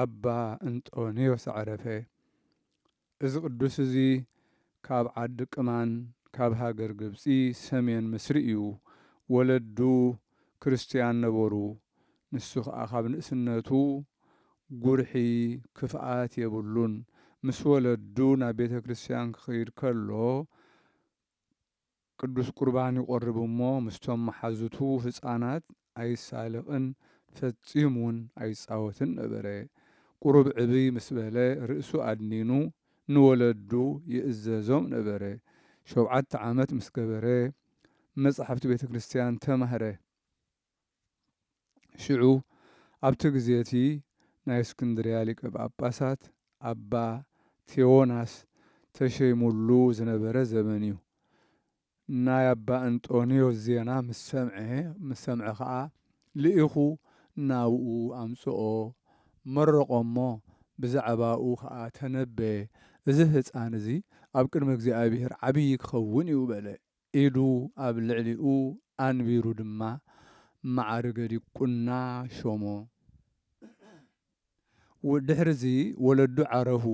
ኣባ እንጦንዮስ ዓረፈ። እዚ ቅዱስ እዚ ካብ ዓዲ ቅማን ካብ ሃገር ግብጺ ሰሜን ምስሪ እዩ። ወለዱ ክርስትያን ነበሩ። ንሱ ከኣ ካብ ንእስነቱ ጉርሒ ክፍኣት የብሉን። ምስ ወለዱ ናብ ቤተክርስቲያን ክኸይድ ከሎ፣ ቅዱስ ቍርባን ይቖርብ እሞ ምስቶም መሓዙቱ ህጻናት ኣይሳለቕን ፈጺሙ ውን ኣይጻወትን ነበረ። ቍሩብ ዕብይ ምስ በለ ርእሱ ኣድኒኑ ንወለዱ ይእዘዞም ነበረ። ሾብዓተ ዓመት ምስ ገበረ መጻሕፍቲ ቤተ ክርስቲያን ተማህረ። ሽዑ ኣብቲ ግዜ እቲ ናይ እስክንድርያ ሊቀ ጳጳሳት ኣባ ቴዎናስ ተሸይሙሉ ዝነበረ ዘመን እዩ። ናይ ኣባ እንጦንዮስ ዜና ምስ ሰምዐ ምስ ሰምዐ ኸኣ ልኢኹ ናብኡ ኣምጽኦ፣ መረቖ እሞ ብዛዕባኡ ኸኣ ተነበየ፣ እዚ ህጻን እዚ ኣብ ቅድሚ እግዚኣብሄር ዓብዪ ክኸውን እዩ በለ። ኢዱ ኣብ ልዕሊኡ ኣንቢሩ ድማ መዓርገ ዲቁና ሾሞ። ድሕርዚ ወለዱ ዓረፉ።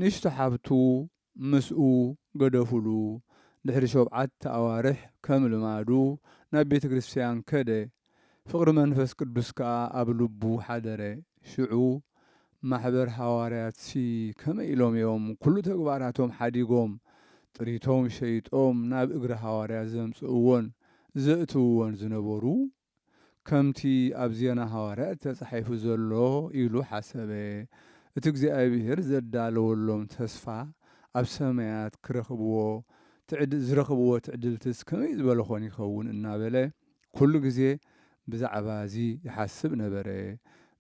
ንእሽቶ ሓብቱ ምስኡ ገደፉሉ። ድሕሪ ሾብዓተ ኣዋርሕ ከም ልማዱ ናብ ቤተ ክርስትያን ከደ። ፍቕሪ መንፈስ ቅዱስ ከኣ ኣብ ልቡ ሓደረ። ሽዑ ማሕበር ሃዋርያትሲ ከመይ ኢሎም እዮም ኵሉ ተግባራቶም ሓዲጎም፣ ጥሪቶም ሸይጦም ናብ እግሪ ሃዋርያት ዘምጽእዎን ዘእትውዎን ዝነበሩ? ከምቲ ኣብ ዜና ሃዋርያት ተጻሒፉ ዘሎ ኢሉ ሓሰበ፣ እቲ እግዚኣብሔር ዘዳለወሎም ተስፋ ኣብ ሰማያት ክረኽብዎ ዝረኽብዎ ትዕድልትስ ከመይ ዝበለ ዀን ይኸውን? እናበለ ኩሉ ግዜ ብዛዕባ እዚ ይሓስብ ነበረ።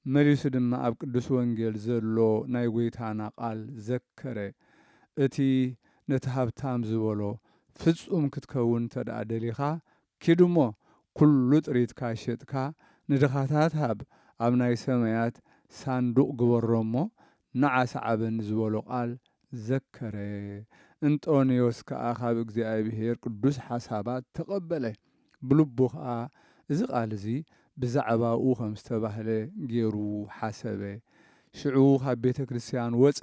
መሊሱ ድማ ኣብ ቅዱስ ወንጌል ዘሎ ናይ ጐይታና ቃል ዘከረ፣ እቲ ነቲ ሃብታም ዝበሎ፣ ፍጹም ክትከውን እንተድኣ ደሊኻ፣ ኪድ እሞ ኩሉ ጥሪትካ ሼጥካ ንድኻታት ሃብ፣ ኣብ ናይ ሰማያት ሳንዱቕ ግበሮ እሞ ንዓ ሰዓበኒ ዝበሎ ቃል ዘከረ። እንጦንዮስ ከኣ ካብ እግዚኣብሔር ቅዱስ ሓሳባት ተቐበለ። ብልቡ ኸኣ እዚ ቓል እዚ ብዛዕባኡ ኸም ዝተባህለ ገይሩ ሓሰበ። ሽዑ ኻብ ቤተ ክርስትያን ወጸ፣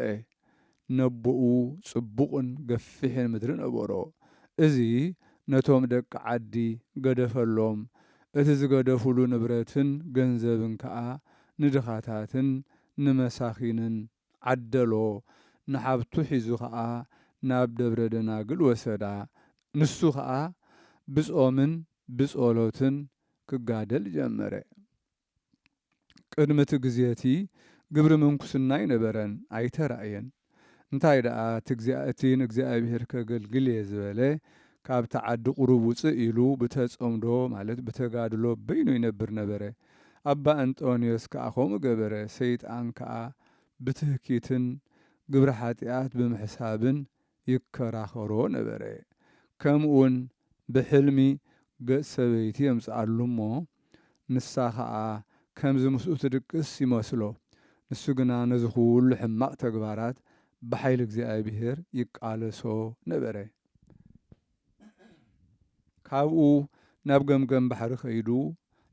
ነቦኡ ጽቡቕን ገፊሕን ምድሪ ነበሮ፣ እዚ ነቶም ደቂ ዓዲ ገደፈሎም፣ እቲ ዝገደፉሉ ንብረትን ገንዘብን ከኣ ንድኻታትን ንመሳኺንን ዓደሎ፣ ንሓብቱ ሒዙ ኸኣ ናብ ደብረ ደናግል ወሰዳ። ንሱ ኸኣ ብጾምን ብጸሎትን ክጋደል ጀመረ። ቅድሚ እቲ ግዜ እቲ ግብሪ ምንኩስና ኣይነበረን፣ ኣይተራእየን። እንታይ ደኣ እቲ ንእግዚኣብሄር ከገልግል እየ ዝበለ ካብቲ ዓዲ ቁሩብ ውጽእ ኢሉ ብተጸምዶ ማለት ብተጋድሎ በይኑ ይነብር ነበረ። ኣባ እንጦንዮስ ከኣ ከምኡ ገበረ፣ ሰይጣን ከኣ ብትህኪትን ግብረ ሓጢኣት ብምሕሳብን ይከራኸሮ ነበረ። ከምኡውን ብሕልሚ ገጽ ሰበይቲ የምጽኣሉ እሞ ንሳ ከኣ ከምዚ ምስኡ ትድቅስ ይመስሎ፣ ንሱ ግና ነዚ ኩሉ ሕማቕ ተግባራት ብሓይሊ እግዚኣብሔር ይቃለሶ ነበረ። ካብኡ ናብ ገምገም ባሕሪ ከይዱ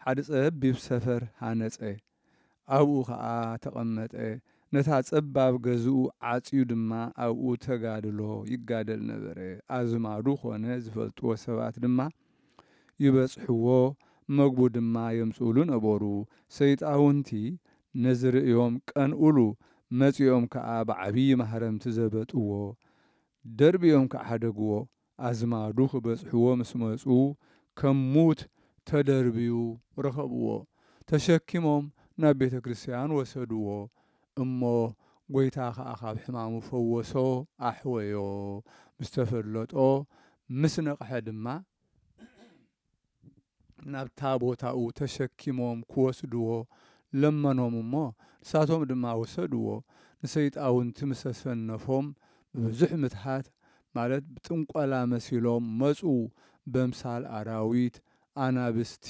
ሓደ ጸቢብ ሰፈር ሃነጸ። ኣብኡ ከኣ ተቐመጠ። ነታ ጸባብ ገዝኡ ዓጽዩ ድማ ኣብኡ ተጋድሎ ይጋደል ነበረ። ኣዝማዱ ኮነ ዝፈልጥዎ ሰባት ድማ ይበጽሕዎ፣ መግቡ ድማ የምጽእሉ ነበሩ። ሰይጣውንቲ ነዚ ርእዮም ቀንኡሉ፣ መጺኦም ከኣ ብዓብዪ ማህረምቲ ዘበጥዎ። ደርብዮም ክዓደግዎ፣ ኣዝማዱ ክበጽሕዎ ምስ መጹ ከም ሙት ተደርብዩ ረኸብዎ፣ ተሸኪሞም ናብ ቤተ ክርስቲያን ወሰድዎ፣ እሞ ጐይታ ከኣ ካብ ሕማሙ ፈወሶ ኣሕወዮ፣ ምስ ተፈለጦ ምስ ነቕሐ ድማ፣ ናብታ ቦታኡ ተሸኪሞም ክወስድዎ ለመኖም እሞ ንሳቶም ድማ ወሰድዎ። ንሰይጣውንቲ ምስ ኣሰነፎም ብብዙሕ ምትሃት ማለት ብጥንቆላ መሲሎም መጹ በምሳል ኣራዊት፣ ኣናብስቲ፣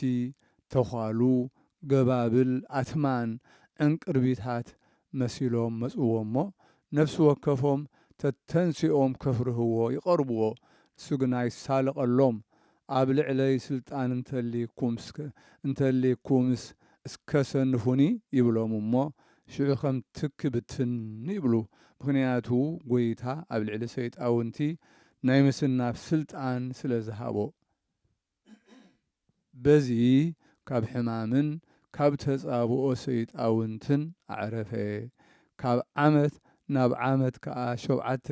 ተዃሉ፣ ገባብል፣ ኣትማን፣ ዕንቅርቢታት መሲሎም መጽዎ እሞ ነፍሲ ወከፎም ተተንሲኦም ከፍርህዎ ይቐርብዎ ንሱ ግና ይሳለቐሎም ኣብ ልዕለይ ስልጣን እንተልይኩምስከ እንተልይኩምስ እስከ ሰንፉኒ ይብሎም እሞ ሽዑ ከም ትኪ ብትን ይብሉ ምኽንያቱ ጎይታ ኣብ ልዕሊ ሰይጣውንቲ ናይ ምስናፍ ስልጣን ስለ ዝሃቦ በዚ ካብ ሕማምን ካብ ተጻብኦ ሰይጣውንትን ኣዕረፈ ካብ ዓመት ናብ ዓመት ከኣ ሸውዓተ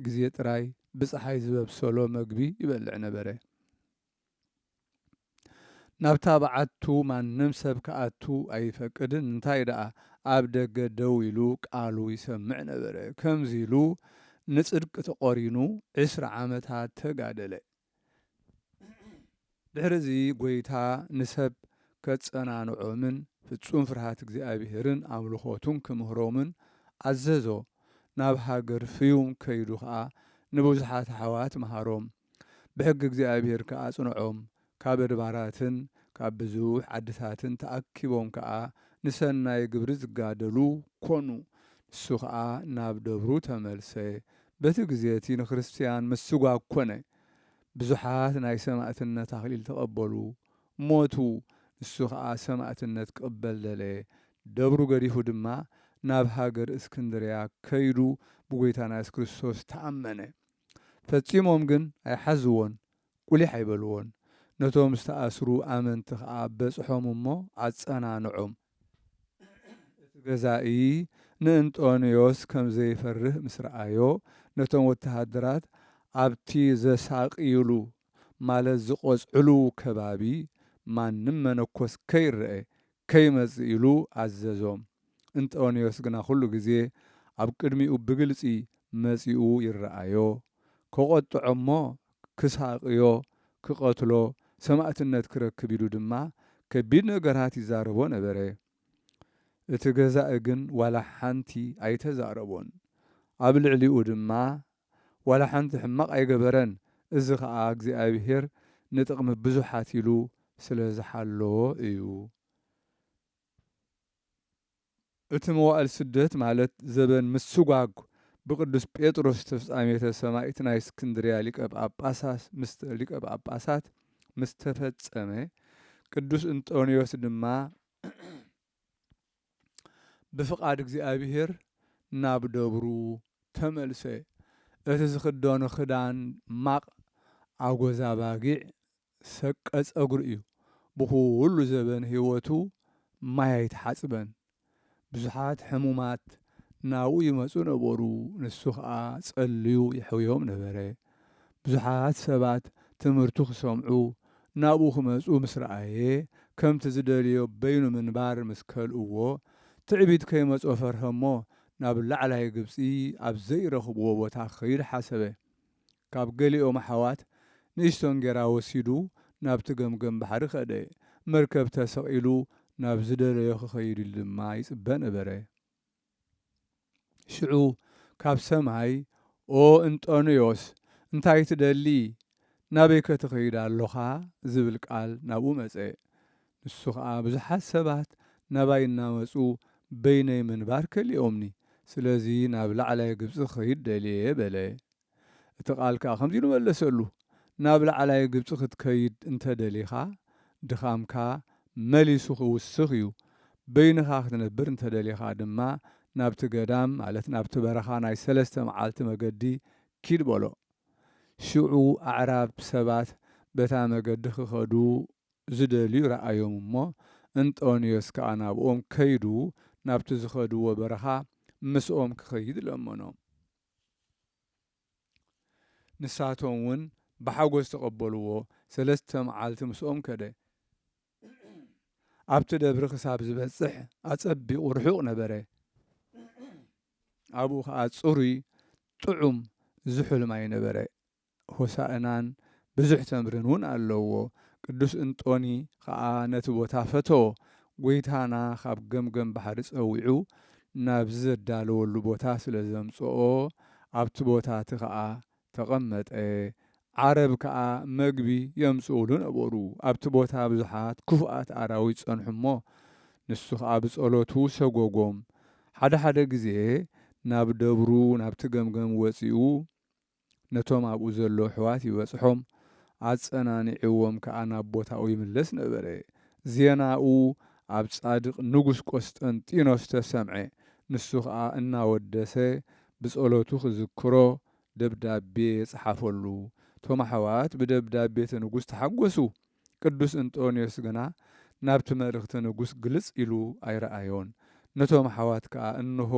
ግዜ ጥራይ ብጸሓይ ዝበብሰሎ መግቢ ይበልዕ ነበረ። ናብታ በዓቱ ማንም ሰብ ክኣቱ ኣይፈቅድን፣ እንታይ ደኣ ኣብ ደገ ደው ኢሉ ቃሉ ይሰምዕ ነበረ። ከምዚ ኢሉ ንጽድቂ ተቖሪኑ ዕስራ ዓመታት ተጋደለ። ድሕርዚ ጐይታ ንሰብ ኬጸናንዖምን ፍጹም ፍርሃት እግዚኣብሄርን ኣምልኾቱን ኪምህሮምን ኣዘዞ። ናብ ሃገር ፍዩም ከይዱ ኸኣ ንብዙሓት ኣሕዋት መሃሮም፣ ብሕጊ እግዚኣብሄር ከኣ ኣጽንዖም። ካብ ኣድባራትን ካብ ብዙሕ ዓድታትን ተኣኪቦም ከኣ ንሰናይ ግብሪ ዚጋደሉ ኰኑ። ንሱ ኸኣ ናብ ደብሩ ተመልሰ። በቲ ግዜ እቲ ንክርስትያን ምስጓግ ኰነ። ብዙሓት ናይ ሰማእትነት ኣኽሊል ተቐበሉ፣ ሞቱ፣ ንሱ ኸኣ ሰማእትነት ክቕበል ደለየ፣ ደብሩ ገዲፉ ድማ ናብ ሃገር እስክንድርያ ከይዱ ብጐይታና የሱስ ክርስቶስ ተኣመነ። ፈጺሞም ግን ኣይሓዝዎን፣ ቍሊሕ ኣይበልዎን፣ ነቶም ዝተኣስሩ ኣመንቲ ኸኣ በጽሖም እሞ ኣጸናንዖም። እቲ ገዛኢ ንእንጦንዮስ ከም ዘይፈርህ ምስ ረኣዮ፣ ነቶም ወተሃደራት ኣብቲ ዘሳቕዩሉ፣ ማለት ዝቐጽዕሉ፣ ከባቢ ማንም መነኮስ ከይረኤ ከይመጽእ ኢሉ ኣዘዞም። እንጦንዮስ ግና ኵሉ ግዜ ኣብ ቅድሚኡ ብግልጺ መጺኡ ይረኣዮ። ከቖጥዖ እሞ ክሳቕዮ፣ ክቐትሎ፣ ሰማእትነት ክረክብ ኢሉ ድማ ከቢድ ነገራት ይዛረቦ ነበረ። እቲ ገዛኢ ግን ዋላ ሓንቲ ኣይተዛረቦን። ኣብ ልዕሊኡ ድማ ዋላ ሓንቲ ሕማቕ ኣይገበረን፣ እዚ ኸኣ እግዚኣብሄር ንጥቕሚ ብዙሓት ኢሉ ስለ ዝሓለዎ እዩ። እቲ መዋእል ስደት ማለት ዘበን ምስጓግ ብቅዱስ ጴጥሮስ ተፍጻሜተ ሰማይት ናይ እስክንድርያ ሊቀ ጳጳሳት ምስተ ሊቀ ጳጳሳት ምስ ተፈጸመ ቅዱስ እንጦንዮስ ድማ ብፍቃድ እግዚኣብሔር ናብ ደብሩ ተመልሰ እቲ ዝኽደኖ ክዳን ማቅ ኣጎዛ ባጊዕ ሰቀ ጸጉሪ እዩ ብኹሉ ዘበን ሂወቱ ማይ ኣይተሓጽበን ብዙሓት ሕሙማት ናብኡ ይመጹ ነበሩ ንሱ ከኣ ጸልዩ የሕውዮም ነበረ ብዙሓት ሰባት ትምህርቱ ክሰምዑ ናብኡ ክመጹ ምስ ረኣየ ከምቲ ዝደልዮ በይኑ ምንባር ምስ ከልእዎ ትዕቢት ከይመጾ ፈርሀሞ ናብ ላዕላይ ግብጺ ኣብ ዘይረኽብዎ ቦታ ክኸይድ ሓሰበ ካብ ገሊኦም ኣሕዋት ንእሽቶ እንጌራ ወሲዱ ናብቲ ገምገም ባሕሪ ከደ። መርከብ ተሰቒሉ ናብ ዝደለዮ ክኸይድ ኢሉ ድማ ይጽበ ነበረ። ሽዑ ካብ ሰማይ ኦ እንጦንዮስ እንታይ ትደሊ ናበይከ ትኸይድ ኣሎኻ ዝብል ቃል ናብኡ መጸ። ንሱ ኸኣ ብዙሓት ሰባት ናባይ እናመጹ በይነይ ምንባር ከሊኦምኒ ስለዚ ናብ ላዕላይ ግብጺ ክኸይድ ደልየ በለ። እቲ ቓል ከኣ ከምዚ ኢሉ መለሰሉ፣ ናብ ላዕላይ ግብጺ ክትከይድ እንተ ደሊኻ፣ ድኻምካ መሊሱ ኺውስኽ እዩ፣ በይንኻ ክትነብር እንተ ደሊኻ ድማ፣ ናብቲ ገዳም፣ ማለት ናብቲ በረኻ ናይ ሰለስተ መዓልቲ መገዲ ኪድ በሎ። ሽዑ ኣዕራብ ሰባት በታ መገዲ ኺኸዱ ዚደልዩ ረኣዮም እሞ፣ እንጦንዮስ ከኣ ናብኦም ከይዱ፣ ናብቲ ዝኸድዎ በረኻ ምስኦም ኪኸይድ ለመኖም። ንሳቶም ውን ብሓጎስ ተቐበልዎ፣ ሰለስተ መዓልቲ ምስኦም ከደ። ኣብቲ ደብሪ ክሳብ ዝበጽሕ ኣጸቢቑ ርሑቕ ነበረ፣ ኣብኡ ኸኣ ጽሩይ ጥዑም ዝሑል ማይ ነበረ። ሆሣእናን ብዙኅ ተምርን'ውን ኣለዎ። ቅዱስ እንጦኒ ኸኣ ነቲ ቦታ ፈተዎ። ጐይታና ኻብ ገምገም ባሕሪ ጸዊዑ ናብዚ ዘዳለወሉ ቦታ ስለ ዘምጽኦ ኣብቲ ቦታ'ቲ ኸኣ ተቐመጠ። ዓረብ ከኣ መግቢ የምጽኡሉ ነበሩ። ኣብቲ ቦታ ብዙኃት ክፉኣት ኣራዊት ጸንሑ እሞ ንሱ ኸኣ ብጸሎቱ ሰጐጎም። ሓደ ሓደ ጊዜ ናብ ደብሩ ናብቲ ገምገም ወጺኡ ነቶም ኣብኡ ዘለዉ ኣሕዋት ይበጽሖም፣ ኣጸናኒዕዎም ከኣ ናብ ቦታኡ ይምለስ ነበረ። ዜናኡ ኣብ ጻድቕ ንጉስ ቈስጠንጢኖስ ተሰምዐ፣ ንሱ ኸኣ እናወደሰ ብጸሎቱ ኺዝክሮ ደብዳቤ ጸሓፈሉ። እቶም ኣሕዋት ብደብዳቤ እቲ ንጉስ ተሓጐሱ፣ ቅዱስ እንጦንዮስ ግና ናብቲ መልእኽቲ ንጉሥ ግልጽ ኢሉ ኣይረኣዮን። ነቶም ኣኃዋት ከኣ እንሆ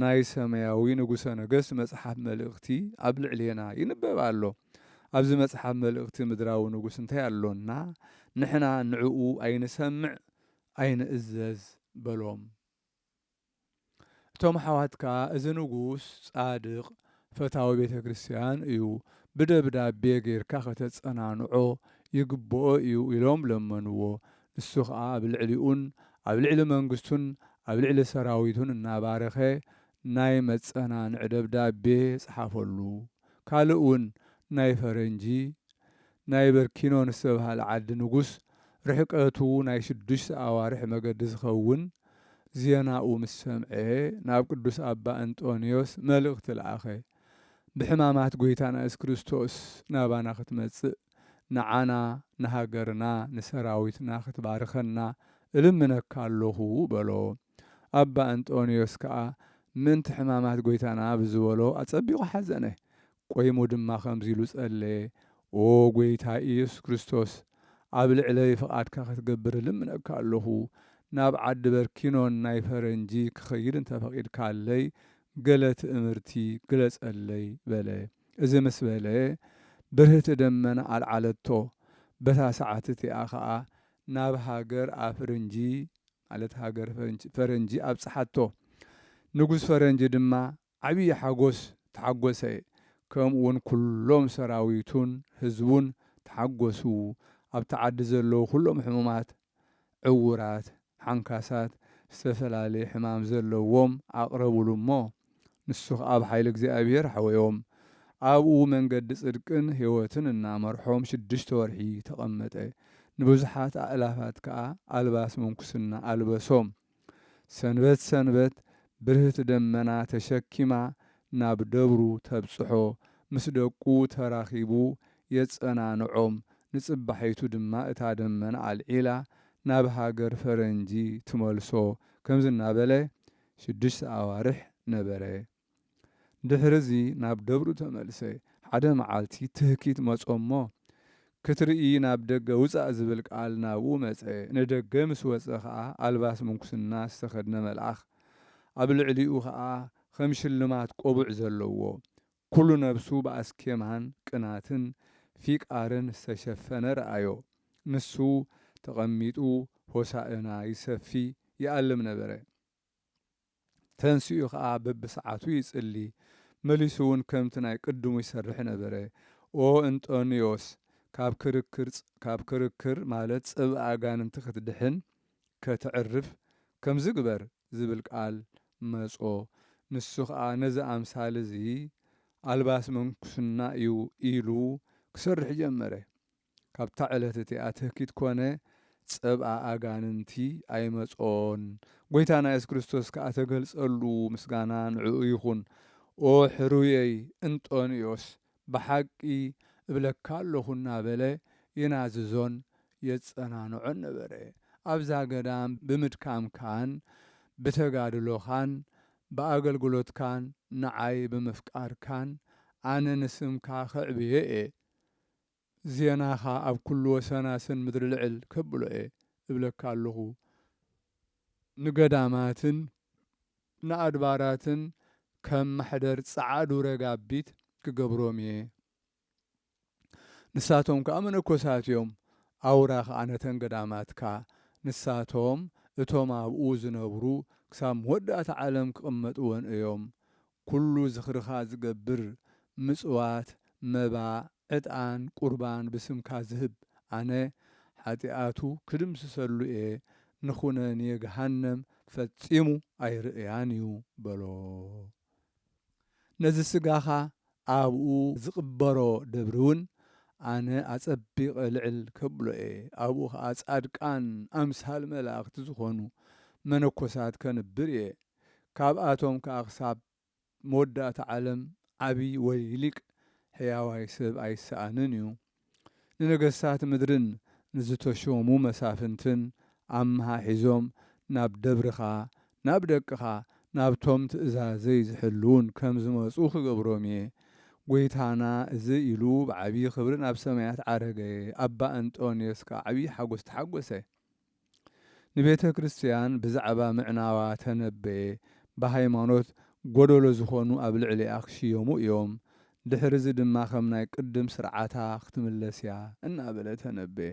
ናይ ሰማያዊ ንጉሠ ነገሥት መጽሓፍ መልእኽቲ ኣብ ልዕሌና ይንበብ ኣሎ። ኣብዚ መጽሓፍ መልእኽቲ ምድራዊ ንጉሥ እንታይ ኣሎና ንሕና ንእኡ ኣይንሰምዕ ኣይንእዘዝ በሎም። እቶም ኣሕዋት ከኣ እዚ ንጉስ ጻድቕ ፈታዊ ቤተ ክርስቲያን እዩ፣ ብደብዳቤ ጌርካ ከተጸናንዖ ይግብኦ እዩ ኢሎም ለመንዎ። ንሱ ኸኣ ኣብ ልዕሊኡን ኣብ ልዕሊ መንግስቱን ኣብ ልዕሊ ሰራዊቱን እናባረኸ ናይ መጸናንዒ ደብዳቤ ጸሓፈሉ። ካልእ እውን ናይ ፈረንጂ ናይ በርኪኖን ዝተብሃለ ዓዲ ንጉስ ርሕቀቱ ናይ ሽዱሽተ ኣዋርሕ መገዲ ዝኸውን ዜናኡ ምስ ሰምዐ ናብ ቅዱስ ኣባ እንጦንዮስ መልእኽቲ ለኣኸ ብሕማማት ጐይታና የሱስ ክርስቶስ ናባና ክትመጽእ ንዓና ንሃገርና ንሰራዊትና ክትባርኸና እልምነካ ኣሎኹ በሎ ኣባ እንጦንዮስ ከኣ ምእንቲ ሕማማት ጐይታና ብዝበሎ ኣጸቢቑ ሓዘነ ቆይሙ ድማ ከምዚ ኢሉ ጸለየ፣ ኦ ጐይታ ኢየሱስ ክርስቶስ፣ ኣብ ልዕለይ ፍቓድካ ክትገብር እልምነካ ኣሎኹ። ናብ ዓዲ በርኪኖን ናይ ፈረንጂ ክኸይድ እንተ ፈቒድካለይ፣ ገለ ትእምርቲ ግለጸለይ፣ በለ። እዚ ምስ በለ፣ ብርህቲ ደመና ኣልዓለቶ። በታ ሰዓት እቲኣ ኸኣ ናብ ሃገር ኣፍርንጂ፣ ማለት ሃገር ፈረንጂ ኣብጽሓቶ። ንጉስ ፈረንጂ ድማ ዓብዪ ሓጎስ ተሓጎሰ፣ ከምኡውን ኩሎም ሰራዊቱን ህዝቡን ተሓጎሱ፣ ኣብቲ ዓዲ ዘለዉ ኩሎም ሕሙማት፣ ዕዉራት፣ ሓንካሳት፣ ዝተፈላለየ ሕማም ዘለዎም ኣቕረቡሉ እሞ፣ ንሱ ኸኣ ብሓይሊ እግዚኣብሄር ኣሕወዮም፣ ኣብኡ መንገዲ ጽድቅን ሕይወትን እናመርሖም ሽዱሽተ ወርሒ ተቐመጠ፣ ንብዙሓት ኣእላፋት ከኣ ኣልባስ ምንኩስና ኣልበሶም። ሰንበት ሰንበት ብርህቲ ደመና ተሸኪማ ናብ ደብሩ ተብጽሖ፣ ምስ ደቁ ተራኺቡ የጸናንዖም፣ ንጽባሒቱ ድማ እታ ደመና ኣልዒላ ናብ ሃገር ፈረንጂ ትመልሶ፣ ከምዚ እናበለ ሽዱሽተ ኣዋርሕ ነበረ። ድሕርዚ ናብ ደብሩ ተመልሰ። ሓደ መዓልቲ ትህኪት መጾ'ሞ ክትርኢ ናብ ደገ ውጻእ ዝብል ቃል ናብኡ መጸ። ንደገ ምስ ወጸ ከኣ ኣልባስ ምንኩስና ዝተኸድነ መልኣኽ ኣብ ልዕሊኡ ከኣ ከም ሽልማት ቆቡዕ ዘለዎ ኩሉ ነብሱ ብኣስኬማን ቅናትን ፊቃርን ዝተሸፈነ ረኣዮ። ንሱ ተቐሚጡ ሆሳእና ይሰፊ ይኣልም ነበረ። ተንሲኡ ከኣ በብሰዓቱ ይጽሊ፣ መሊሱውን ከምቲ ናይ ቅድሙ ይሰርሕ ነበረ። ኦ እንጦንዮስ፣ ካብ ክርክር፣ ካብ ክርክር ማለት ጽብእ ኣጋንንቲ ክትድሕን፣ ከተዕርፍ፣ ከምዚ ግበር ዝብል ቃል መጾ። ንሱ ከኣ ነዚ ኣምሳል እዚ ኣልባስ ምንኩስና እዩ ኢሉ ክሰርሕ ጀመረ። ካብታ ዕለት እቲኣ ትህኪት ኮነ ጸብኣ ኣጋንንቲ ኣይመጾን ጎይታና የሱስ ክርስቶስ ከኣ ተገልጸሉ ምስጋና ንዕኡ ይኩን ኦ ሕሩየይ እንጦንዮስ ብሓቂ እብለካ ኣሎኩ እናበለ የናዝዞን የጸናንዖን ነበረ ኣብዛ ገዳም ብምድካምካን ብተጋድሎካን ብኣገልግሎትካን ንዓይ ብምፍቃርካን ኣነ ንስምካ ከዕብዬ እየ ዜናኻ ኣብ ኩሉ ወሰናስን ምድሪ ልዕል ከብሎ'የ እብለካ ኣሎኹ። ንገዳማትን ንኣድባራትን ከም ማሕደር ጸዓዱ ረጋቢት ክገብሮም'የ። ንሳቶም ከኣ መነኮሳት'ዮም፣ ኣውራ ከኣ ነተን ገዳማትካ። ንሳቶም እቶም ኣብኡ ዝነብሩ ክሳብ መወዳእታ ዓለም ክቕመጥወን እዮም። ኩሉ ዝኽርኻ ዝገብር፣ ምጽዋት፣ መባ፣ ዕጣን፣ ቁርባን ብስምካ ዝህብ፣ ኣነ ሓጢኣቱ ክድምስሰሉ እየ፣ ንኵነኔ ገሃነም ፈጺሙ ኣይርእያን እዩ በሎ። ነዚ ስጋኻ ኣብኡ ዝቕበሮ ደብሪውን ኣነ ኣጸቢቐ ልዕል ከብሎ እየ፣ ኣብኡ ኸኣ ጻድቃን፣ ኣምሳል መላእኽቲ ዝዀኑ መነኰሳት ከንብር እየ፣ ካብኣቶም ከኣ ክሳብ መወዳእታ ዓለም ዓቢ ወይ ሊቅ ሕያዋይ ሰብ ኣይሰኣንን እዩ። ንነገስታት ምድርን ንዝተሾሙ መሳፍንትን ኣመሓሒዞም ናብ ደብርኻ፣ ናብ ደቅኻ፣ ናብቶም ትእዛዘይ ዝሕልዉን ከም ዝመጹ ክገብሮም እየ። ጐይታና እዚ ኢሉ ብዓቢ ክብሪ ናብ ሰማያት ዓረገ፣ ኣባ እንጦንዮስ ከኣ ዓቢ ሓጐስ ተሓጐሰ። ንቤተ ክርስትያን ብዛዕባ ምዕናዋ ተነበየ፣ ብሃይማኖት ጐደሎ ዝዀኑ ኣብ ልዕሊኣ ክሽየሙ እዮም፣ ድሕርዚ ድማ ከም ናይ ቅድም ስርዓታ ክትምለስ እያ እናበለ ተነበየ።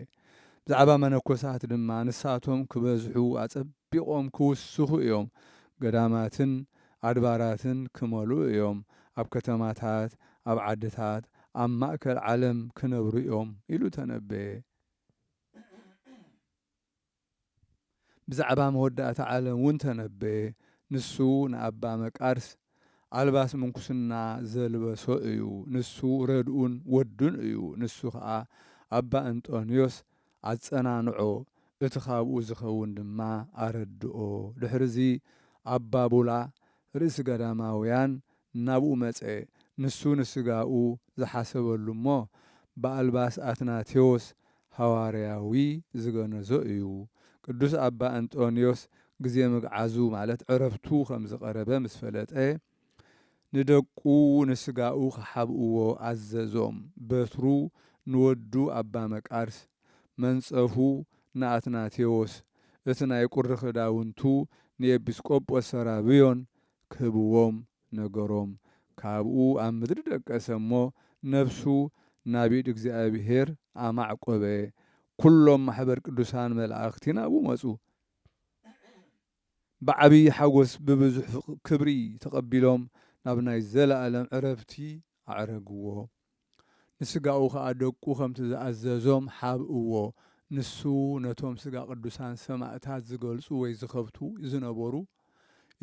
ብዛዕባ መነኮሳት ድማ ንሳቶም ክበዝሑ ኣጸቢቖም ክውስኹ እዮም፣ ገዳማትን ኣድባራትን ክመልኡ እዮም፣ ኣብ ከተማታት ኣብ ዓድታት ኣብ ማእከል ዓለም ክነብሩ እዮም ኢሉ ተነበየ። ብዛዕባ መወዳእታ ዓለም እውን ተነበየ። ንሱ ንኣባ መቃርስ ኣልባስ ምንኩስና ዘልበሶ እዩ። ንሱ ረድኡን ወዱን እዩ። ንሱ ከኣ ኣባ እንጦንዮስ ኣጸናንዖ፣ እቲ ካብኡ ዝኸውን ድማ ኣረድኦ። ድሕርዚ ኣባ ቡላ ርእሲ ገዳማውያን ናብኡ መጸ፣ ንሱ ንሥጋኡ ዝሓሰበሉ እሞ ብኣልባስ ኣትናቴዎስ ሓዋርያዊ ዝገነዞ እዩ። ቅዱስ ኣባ እንጦንዮስ ግዜ ምግዓዙ ማለት ዕረፍቱ ከም ዝቐረበ ምስ ፈለጠ ንደቁ ንሥጋኡ ክሓብእዎ ኣዘዞም፣ በትሩ ንወዱ ኣባ መቃርስ፣ መንጸፉ ንኣትናቴዎስ፣ እቲ ናይ ቁሪ ክዳውንቱ ንኤጲስቆጶስ ሰራብዮን ክህብዎም ነገሮም። ካብኡ ኣብ ምድሪ ደቀሰ እሞ ነፍሱ ናብ ኢድ እግዚኣብሔር ኣማዕቈበ። ኵሎም ማኅበር ቅዱሳን መላእኽቲ ናብኡ መጹ። ብዓቢይ ሓጐስ ብብዙኅ ክብሪ ተቐቢሎም ናብ ናይ ዘለዓለም ዕረፍቲ ኣዕረግዎ። ንስጋኡ ኸኣ ደቁ ከምቲ ዝኣዘዞም ሐብእዎ። ንሱ ነቶም ስጋ ቅዱሳን ሰማእታት ዝገልጹ ወይ ዝኸብቱ ዝነበሩ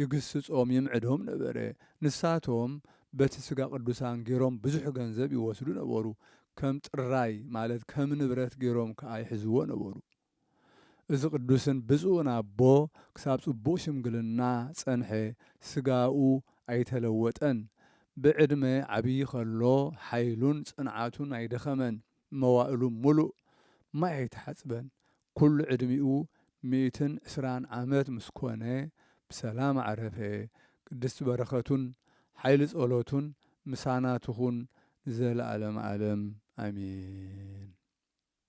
ይግስጾም ይምዕዶም ነበረ። ንሳቶም በቲ ስጋ ቅዱሳን ገሮም ብዙሕ ገንዘብ ይወስዱ ነበሩ፣ ከም ጥራይ ማለት ከም ንብረት ገሮም ከኣ ይሕዝዎ ነበሩ። እዚ ቅዱስን ብፁዕን ኣቦ ክሳብ ጽቡቕ ሽምግልና ጸንሐ፣ ስጋኡ ኣይተለወጠን፣ ብዕድመ ዓብዪ ከሎ ሓይሉን ጽንዓቱን ኣይደኸመን፣ መዋእሉ ምሉእ ማይ ኣይተሓጽበን፣ ኩሉ ዕድሚኡ ሚእትን ዕስራን ዓመት ምስ ኮነ ብሰላም ኣዕረፈ፣ ቅድስቲ በረኸቱን ሓይሊ ጸሎቱን ምሳና ትኹን ንዘለዓለመ ዓለም ኣሜን።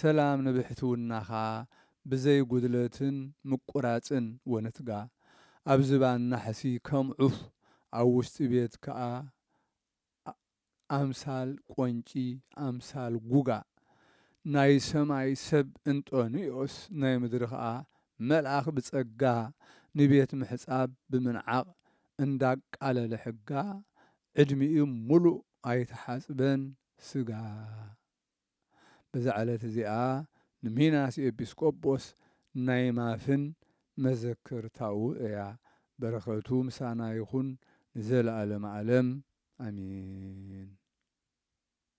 ሰላም ንብሕትውናኻ ብዘይ ጉድለትን ምቁራጽን ወንትጋ ኣብ ዝባን ናሕሲ ከም ዑፍ ኣብ ውሽጢ ቤት ክኣ ኣምሳል ቆንጪ ኣምሳል ጉጋ ናይ ሰማይ ሰብ እንጦንዮስ ናይ ምድሪ ክኣ መልኣኽ ብጸጋ ንቤት ምሕጻብ ብምንዓቕ እንዳቃለለ ሕጋ ዕድሚኡ ምሉእ ኣይተሓጽበን ስጋ በዛ ዕለት እዚኣ ንሚናስ ኤጲስቆጶስ ናይ ማፍን መዘከርታኡ እያ በረከቱ ምሳና ይኩን ንዘለኣለም ኣለም ኣሜን።